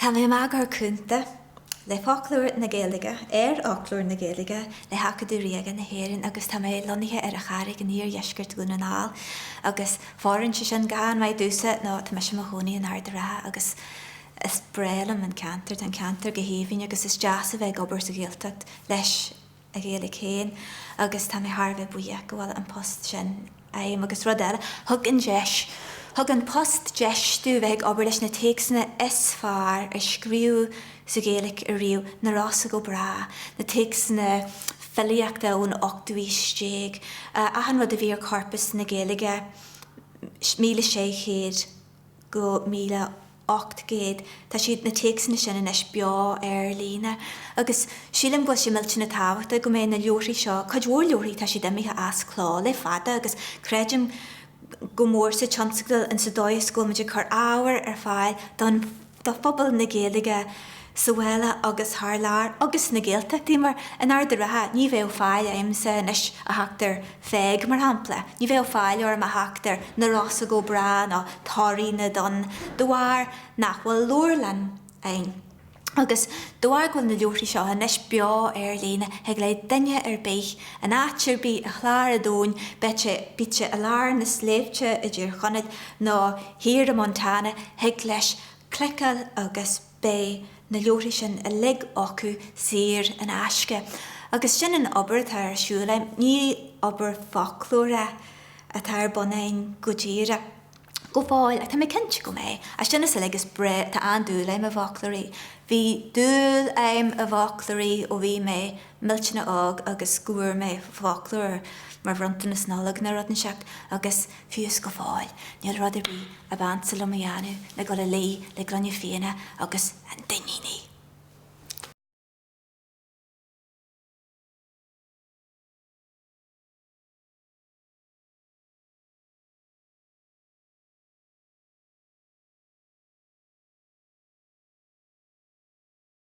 Tá mé i m'eagarthóir cúnta le Foclóir na Gaeilge, ar Fhoclóir na Gaeilge le hAcadamh Ríoga na hÉireann, agus tá mé lonnaithe ar an Charraig in iardheisceart Dhún na nGall, agus fóireann sé sin go han-mhaith domhsa nó tá mise i mo chónaí in Ard a' Rátha agus is breá liom an ceantar, tá an ceantar go haoibhinn agus is deas a bheith ag obair sa Ghaeltacht leis an Ghaeilge féin agus tá mé thar a bheith buíoch go bhfuil an post sin agam agus rud eile, thug an deis, thug an post deis domh bheith ag obair leis na téacsanna is fearr a scríobhadh sa Ghaeilge ariamh, Na Rosa go Brách, na téacsanna filíochta ón ochtú aois déag, achan rud a bhí ar Chorpas na Gaeilge, míle sé chéad go míle. 800. Tá siad, na téacsanna sin, anois beo ar líne, agus sílim go bhfuil sé millteanach tábhachtach go mbeidh na leabharthaí seo, cuid mhór leabharthaí, tá siad imithe as cló le fada, agus creidim go mór sa tionscadal insa dóigh is go bhfuil muid ag cur ábhar ar fáil don, do phobal na Gaeilge sa bhaile agus thar lear, agus sna Gaeltachtaí, mar in Ard a' Rátha, ní bheadh fáil a'msa anois a theacht ar. Pheig, mar shampla, ní bheadh fáil orm a theacht ar Na Rosa go Brách nó Toraigh na dTonn de bharr nach bhfuil leabharlann ann. Agus de bharr go bhfuil na leabharthaí seo anois beo ar líne, thig le duine ar bith, in áit ar bith ar chlár an domhain, bíodh sé, bíodh sé i lár na sléibhte i dTír Chonaill nó thiar i Montana, thig leis cliceáil agus. beidh na leabharthaí sin uilig acu saor in aisce. Agus sin an obair atá ar siúl agam. Ní obair foclóra atá ar bun againn go díreach. Go fóill, ach tá mé cinnte go mbeidh. Ach sin is uilig, is breá, tá an-dúil agam i bhfoclóirí. Bhí dúil agam i bhfoclóirí ó bhí mé. millteanach óg agus go bhfuair mé foclóir mar bhronntanas Nollag nó rud inteacht agus fiú's go fóill níl rud ar bith ab ansa liom a dhéanamh ná dul a luí le gloine fíona agus an Duinníneach!